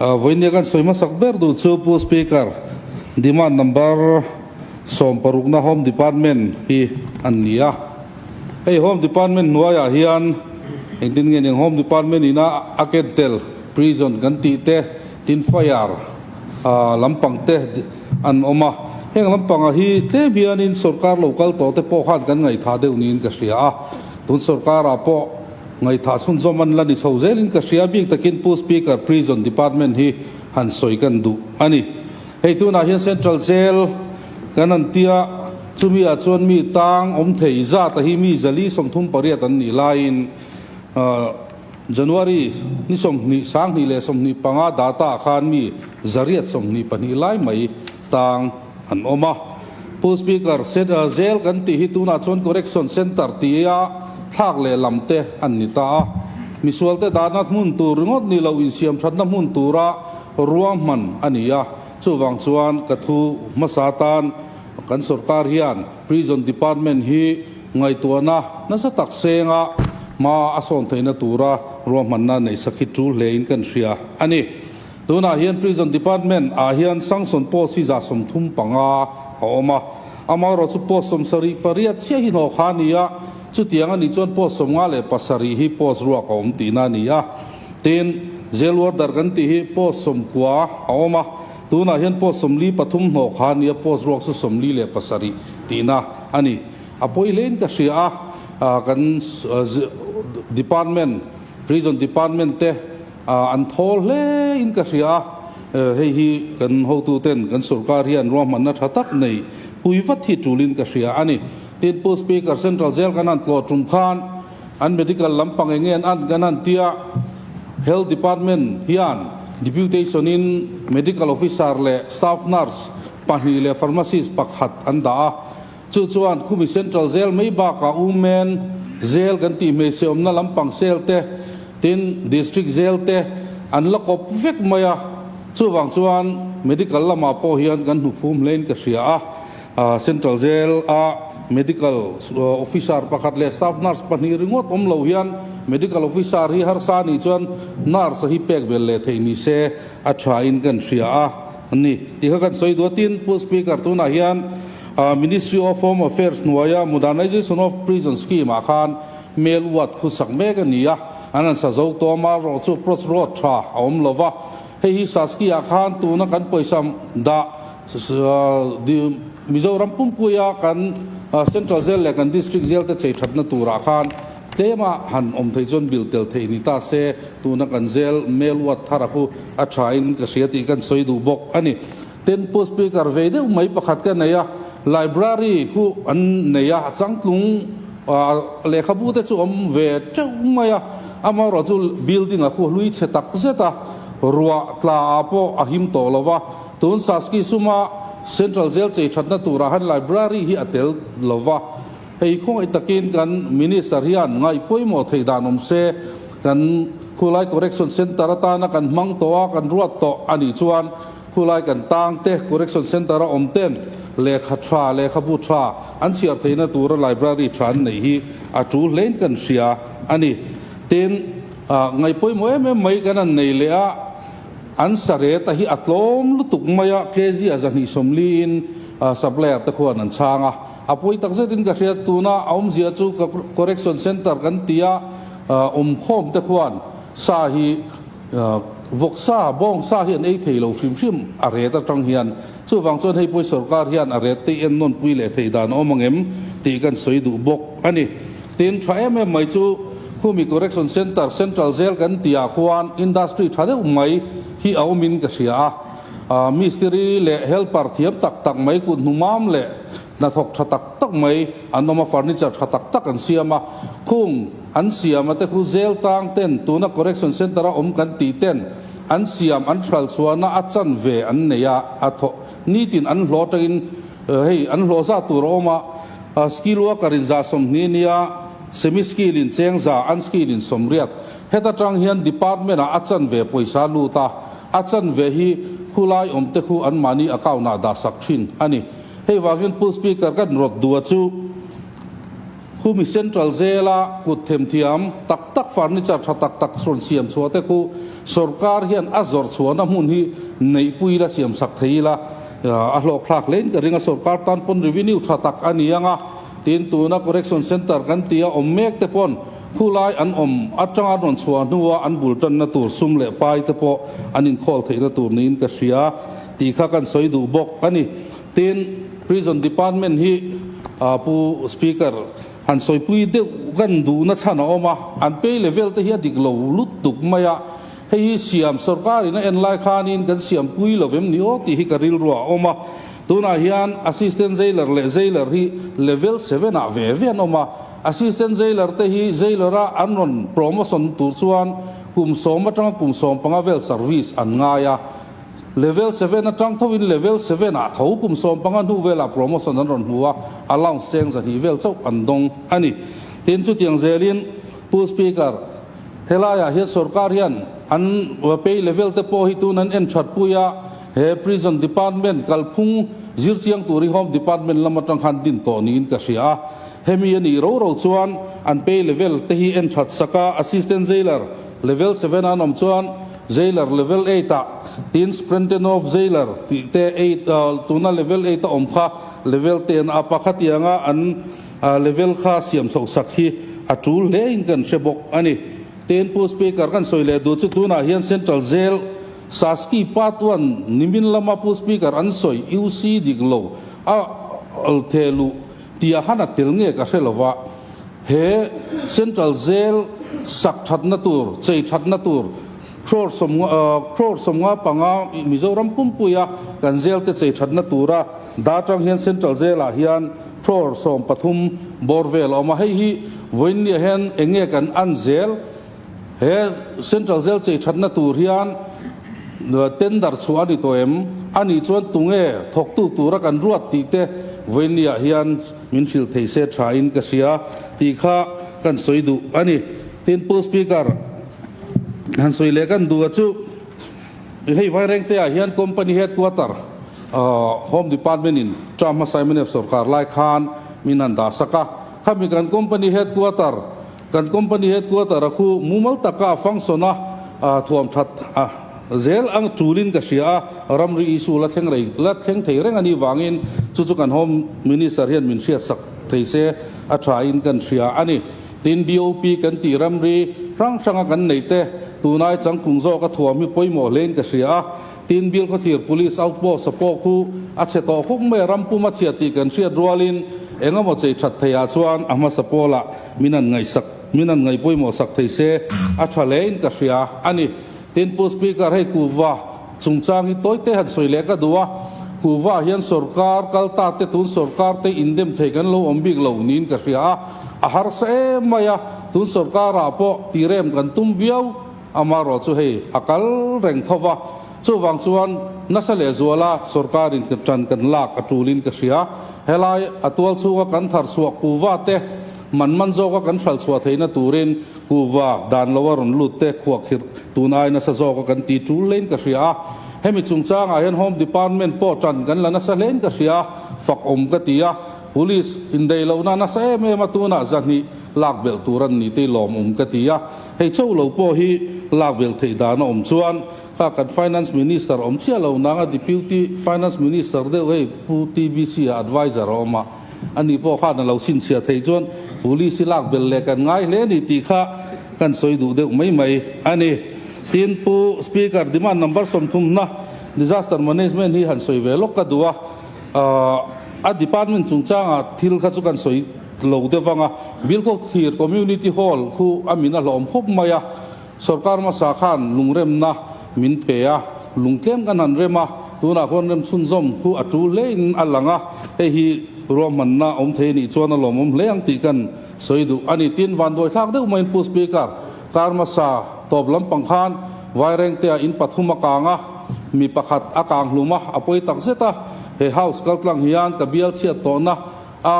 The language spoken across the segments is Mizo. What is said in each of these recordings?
Vawinia kan sawi hmasak ber duh chu Pu Speaker, Demand Number sawm parukna Home Department hi an ni a. Hei Home Department hnuaiah hian engtin nge nen Home Department ina a ken tel Prison kan tih te, tin fire lampang te an awm a. Heng lampangah hi tlem hianin sawrkar lo kal tawh te pawh khan kan ngaithah deuh niin ka hria a. Tun sawrkarah pawh. Ngaihthah chhun zawm an la ni chho zel in ka hria bik takin Pu Speaker Prison Department hi han sawi kan duh a ni. Hei tunah hian Central Jail kan han ti a, chumi ah chuan mi tang awm thei zat a hi mi zali sawmthum pariat an nih laiin January ni sawmhnih, sanghnih leh sawmhnih panga data ah khan mi zariat sawmhnih pahnih lai mai tang an awm a. Pu Speaker, set a zel kan tih hi tunah chuan correction centre tia thlak lehlam te an ni ta a. Misualte dahna hmun tur ringawt nih lo insiamthatna hmun tura ruahman a ni a. Chuvang chuan ka thu hmasa tan kan sorkar hian Prison Department hi ngaihtuahna nasa tak senga hma a sawn theihna tura ruahmanna neihsak hi tul hle in kan hria a ni. Tunah hian Prison Department ah hian Sangson post hi zah sawm thum panga a awm a, amaherawh chu post sawm sarih pariat chiah hi hnawh kha a ni a, chutiang a nih chuan post sawm nga leh pasarih hi post ruak a awm tihna a ni a. Tin, Jail Warder kan tih hi post sawm kua a awm a, tunah hian post sawm li pathum hnawh kha a ni a, post ruak chu sawm li leh pasarih tihna a ni. A pawi hlein ka hria a, kan Department, Prison Department te, Ah an thaw hle in ka hria a, hei hi kan hotu ten kan sorkar hi an ruahmanna tha tak nei pui vat hi tul in ka hria a ni. Thinpu Speaker Central Jail kan han tlawh tum khan an medical lampang enge an an kan han tia Health Department hian Deputation in Medical Officer leh Staff Nurse pahnih leh Pharmacist pakhat an dah a. Chu chuan Khumi Central Jail mai bakah um men jail kan tih hmeichheawmna lampang cell te, tin, District Jail te an la kawp vek mai a, chuvang chuan medical lamah pawh hian kan hnufum hlein ka hria a, Central Jail a medical officer pakhat leh staff nurse pahnih ringawt awm lo hian medical officer hi harsa a nih chuan nurse a hi pek vel leh theih ni se a tha in kan hria a, An ni tih kha kan sawi duai. Tin, Pu Speaker, tunah hian Ministry of Home Affairs hnuaia Modernisation of Prison Scheme ah khan Mel ward khu sak mek a ni a, an rawn sa zo tawm a, rawh chu Pross Road tha a awm lo va. Hei hi Saskia ah khan tuna kan pawisa dah Mizoram pumpuia kan Central Jail leh kan District Jail te chei that na tur ah khan, Tlema han awm thei chuan bil tel theih ni ta se, tuna kan zel Mel Wat Thara khu a tha in ka hria tih kan sawi duh bawk a ni. Temple Speaker ve deuh mai pakhat ka nei a, Library khu an nei a, changtlung lehkhabu te chu awm ve teuh mai a, amaherawh chu Building a khu hlui chhe tak zet a, ruah tla ah pawh a him tawh lo va, tun Saskisuma Central zêl chei thatna tur ah han Library hi a tel lo va, Hei khawngaih takin kan Minister hian ngai pawimawh thei dan awm se, kan Khulai Correction Centre atana kan hmang tawh a, kan ruat tawh a nih chuan Khulai kan tang te, Correction Centre a awm ten lehkha tha, lehkhabu tha an chhiar theihna tura Library tha an neih hi a ṭu hle in kan hria a ni. Tin, ngai pawimawh em em mai kan han nei leh a, an sareta hi a tlawm lutuk mai a, kg a zahnih sawmli in Supplier te khawn an chhang a. A pawi tak zetin ka hriat tuna a awmzia chu ka correction centre kan ti a, awm khawm te khuan sa hi vawk sa, bawng sa hi an ei thei lo hrim hrim a ret atang hian chuvang chuan hei pawi sorkar hian a rettei en nawn pui leh thei dan a awm ang em tih kan sawi duh bawk a ni. Tin, tha em em mai chu Khumi Correction Centre, Central Jail kan ti ah khuan industry tha deuh mai hi a awm in ka hria a, mistiri leh helper thiam tak tak mai kut hnu mam leh, Hnathawk tha tak tak mai an awm a, furniture tha tak tak an siam a, khung an siam a te khu zel tang ten, tuna correction centre a awm kan tih ten an siam, an hralchhuan a, a chan ve an nei a, a thaw nitin an hlaw tangin hei an hlaw zah tur a awm a, skill worker in zah sawmhnih nia semi skill in cheng zah, unskilled in sawmriat, heta tang hian department ah a chan ve pawisa lut a. A chanve hi khulai awmte khu an mahni account ah dah sak thin a ni. Hei vangin Pu Speaker ka hnrawt dua chu Khumi Central zela kut themthiam tak tak furniture tha tak tak rawn siam chhuah te khu sorkar hian a zawrh chhuahna hmun hi neihpui ila siam sak thei ila a hlawkthlak hlein ka ring a. Sorkar tan pawn revenue tha tak a ni ang a, tin tuna correction centre kan tia awm mek te pawn, Khulai an awm atanga rawn chhuah hnuah an bul tanna tur sum leh pai te pawh an inkhawl theihna tur niin ka hria tih kha kan sawi duh bawk a ni. Tin, Prison Department hi Pu Speaker, han sawipui deuh kan duh nachhan a awm a, an pei level te hi a dik lo lutuk mai a, hei hi siam sorkar in a en lai khanin kan siam pui lo em ni aw tih hi ka rilru a awm a. Tunah hian Assistant Jailer leh Jailer hi Level Seven-ah ve ve an awm a, Assistant Jailer te hi Jailer a an rawn promotion tur chuan kum sawm atanga kum sawm panga vel service an ngai a. Level seven atang thoin Level seven ah tho kum sawm panga hnu velah promotion an rawn hmu a, allowance cheng zahnih vel chauh an dawng a ni. Tin, chutiang zelin Pu Speaker, helaiah hian sorkar hian an pay level te pawh hi tun an en that pui a, he Prison Department kalphung zir chiang tur hi Home Department lam atang khan din tawh niin ka hria a. Hemi a nih ro ro chuan an pay level te hi en that sak a, Assistant Jailer, Level Seven-ah an awm chuan Jailer, Level Eight-ah, tin Sprentenow Jailer tih te eight, tuna Level Eight-a awm kha Level Ten-a pakha tiang a an level kha siam chhoh sak hi a tul hle in kan hre bawk a ni. Ten pu Speaker kan sawi leh duh chu tunah hian Central Jail, Saski Part One nimin lama pu Speaker an sawi iu si dik lo a, Lthe luh, Tia han a tel ngek a hre lo va, he Central Jail sak thatna tur, chei thatna tur crore sawmnga crore sawmnga panga Mizoram pumpuia kan jail te chei thatna tura da tang hian Central Jail ah hian crore sawm pathum bawr vel a awm a, hei hi vawiin ni ah hian enge kan an zel? He Central Jail chei thatna tur hian tender chhuah a ni tawh em? A nih chuan tunge thawktu tura kan ruat tih te Vawinia hian min hrilh thei se tha in ka hria tih kha kan sawi duh a ni. Tin, Pu Speaker, han sawi leh kan duh a chu, hei Vairengte ah hian Company Headquarter Home Department in Tra hmasa MNF sawrkar lai khan min han dahsak a, khami kan Company Headquarter Kan company headquarter a khu mumal taka function a thuam that a, zel ang tulin ka hria a, ramri issue la thleng rei la thleng thei reng ani vangin chu chu kan Home Minister hian min hriat sak thei se a tha in kan hria a ni, tin BOP kan tih ramri hrang hrang a kan neih te tunai changkung zawk a thuam hi pawimawh hlein ka hria a. Tin, Bilkhawthlir Police Outpost a pawh khu a chhe tawh khuk mai a ram pum a chhiat tih kan hriat rualin engemaw chei that theiah chuan a hmasa pawla min an ngaihsak min an ngaih pawimawh sak thei se a tha hlein ka hria a ni. Tin, Pu Speaker, hei kuhva chungchang hi tawite han sawi leh ka duh a, kuhva hian sorkar kal ta te tun sorkarte indem thei kan lo awm bik lo niin ka hria a, a harsa em mai a, tun sorkarah pawh tirem kan tum viau. Amarawh chu hei a kal reng tho va, chuvang chuan nasa leh zuala sorkarin ka tan kan lak a tulin ka hria, helai a tual chhunga kan thar chhuak kuhva te man man zawka kan hral chhuah theihna turin kuhva dan loa rawn lut te khuak hirh tun ai nasa zawka kan ti tul leiin ka hria a, hemi chungchangah hian Home Department pawh tan kan la nasa hlein ka hria, fakawm ka ti a, Police indeihlohna nasa em em a tunah zahnih lak belh tur an ni tei lawm um ka ti a. Hei chauh lo pawh hi lak vel theih dan a awm chuan kha kan Finance Minister awm chiah lo nanga Deputy Finance Minister deuh hei Pu TBC a advisor a awm a, ani pawh khan a lo chhinchhiah theih chuan Police i lak bel leh kan ngai hle a ni tih kha kan sawi duh deuh mai mai a ni. Tin, Pu Speaker, Demand number sawmthum hna, Disaster Management, hi han sawi ve lawk ka duh a, A department chungchanga thil kha chu kan sawi lo deuh vang a, Bilkhawk thlir community hall khu a min a hlawm khawp mai a, sorkar hmasa khan lungremna min pe a, lungtlem kan han rem a, tunah khuan rem chhunzawm khu a tul hle in a lang a, hei hi ruahmanna awm thei a nih chuan a lawmawm hle ang tih kan sawi duh a ni, tin vanduaithlak deuh mai in Pu Speaker, Karma sa tawp lampang khan Vairengtea in pathum a kang a, mi pakhat a kang hlum a, a pawi tak zet a, he house kaltlang hian ka bial chhiat tawhna a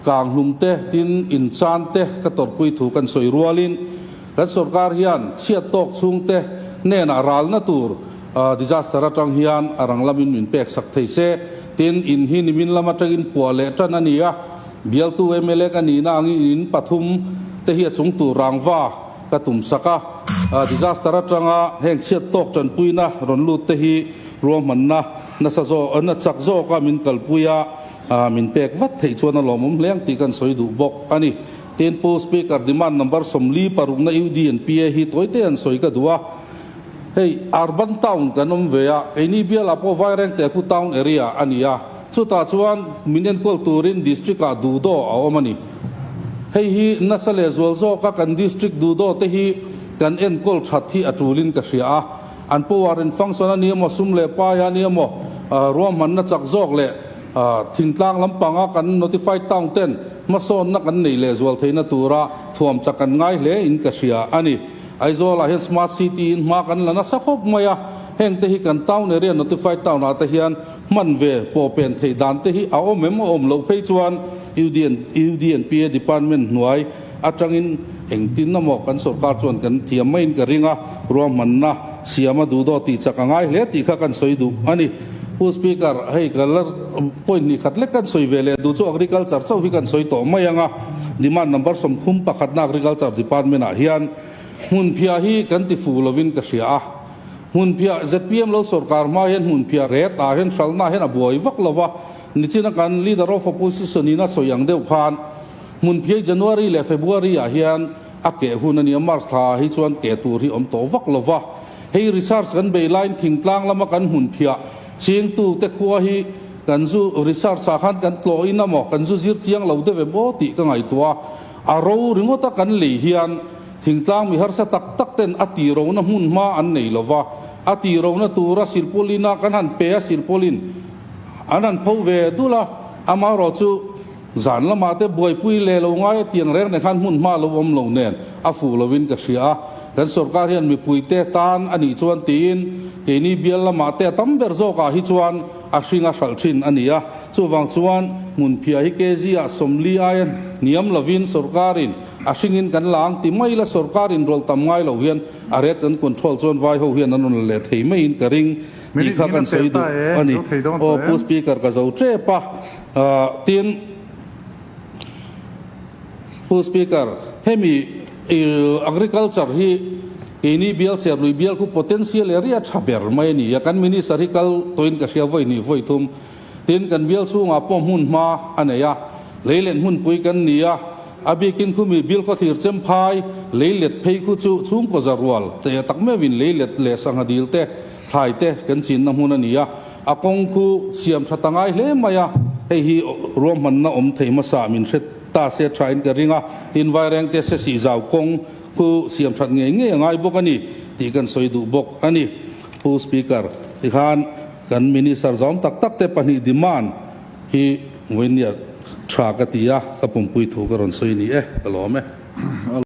kang hlum te tin in chan te ka tawrhpui thu kan sawi rualin kan sorkar hian chhiat tawk chhung te hnenah ralna tur disaster atang hian a rang lamin min peksak thei se tin in hi nimin lam atangin puah leh tan a ni a. Bialtu mla ka nihna ang i in pathum te hi a chung tur rangva ka tum sak a. Disaster atanga heng chhiat tawk tanpuina rawn lut te hi ruahmanna nasa zawk na chak zawka min kalpui a, min pek vat theih chuan a lawmawm hle ang tih kan sawi duh bawk a ni. Tin Pu Speaker Demand Number Sawmli parukna UDNPA hi tawite an sawi ka duh a, hei Urban Town kan awm ve a, keini bial Apo Vairengte khu Town Area a ni a, Chutah chuan min enkual turin district ah duhdaw a awm a ni. Hei hi nasa leh zual zawka kan district duhdaw te hi kan enkual that hi a tulin ka hria a, an Powarian function a ni emaw, sum leh pai a ni emaw, ruahmanna chak zawk leh thingtlang lampanga kan notified town ten hmasawnna kan neih leh zual theihna tura thuam chak kan ngai hle in ka hria a ni. Aizawl ah hian smart city in hma kan la nasa khawp mai a, heng te hi kan town area notified town ah te hian Hman ve pawh pen theih dan te hi a awm em a awm loh phei chuan UDNP a department hnuai atangin eng tin a maw kan sorkar chuan kan thiam maiin ka ring a, ruahmanna siam a duhdaw tih chak a ngai hle tih kha kan sawi duh a ni. Pu Speaker, hei ka la point hnih khat lek kan sawi ve leh duh chu agriculture chauh hi kan sawi tawh mai ang a, demand number sawmthum pakhatna agriculture department ah hian hmunphiah hi kan tifu lovin ka hria a, Hmunphiah, zpm lo sorkar hma hian hmunphiah reh tah hian hralhnaah hian a buai vak lo va, nichina kan Leader of Opposition in a sawi ang deuh khan hmunphiah hi January leh February ah hian a keh hun a ni a, March tha hi chuan keh tur hi awm tawh vak lo va, hei research kan bei laiin thingtlang lama kan hmunphiah chingtu te khua hi kan zu research ah khan kan tlawhin a maw kan zu zir chiang lo deuh em aw tih ka ngaihtuah a. A ro ringawt a kan lei hian thingtlang mi harsa tak tak ten a tih rona hmun hma an nei lo va, a tih rona tura silpaulin a kan han pe a silpaulin an han pho ve dul a, ama erawh chu zan lamah te buaipui leh lo ngai a tiang reng reng khan hmun hma lo awm lo nen a fuh lo in ka hria a, kan sorkar hian mipui te tan a nih chuan tiin keini bial lamah te a tam ber zawk ah hi chuan a hring a hralh thin a ni a. Chuvang chuan hmunphiah hi KZ-ah sawmli aia hniam lovin sorkarin a hringin kan la ang ti mai la, sorkar inrawlh tam ngai lo hian a red gun control chuan vai ho hian an rawn la leh thei maiin ka ring tih kha kan sawi duh a ni. Aw Pu Speaker ka zo tep a, tin Pu Speaker hemi agriculture hi keini bial serlui bial khu potential area tha ber mai a ni a, kan Minister hi kal tawhin ka hria vawi hnih vawi thum. Tin, kan bial chhungah pawh hmun hma a nei a, lei let hmunpui kan ni a, a bikin khumi bil khawthlir chem phai, lei let phei khu chu chhungkaw zarual te tak meuhin lei let leh sangha dil te, thlai te kan chinna hmun a ni a, a kawng khu siam tha ta ngai hle mai a. Hei hi ruahmanna awm thei hmasa min hre ta se thain ka ring a, tin Vaireng te sesih zau kawng khu siam that ngei ngei a ngai bawk a ni tih kan sawi duh bawk a ni. Thu Speaker hi khan kan Minister zawng tak tak te pahnih demand hi vawiin ni a tha ka ti a, ka pumpui thu ka rawn sawi a ni e, ka lawm e.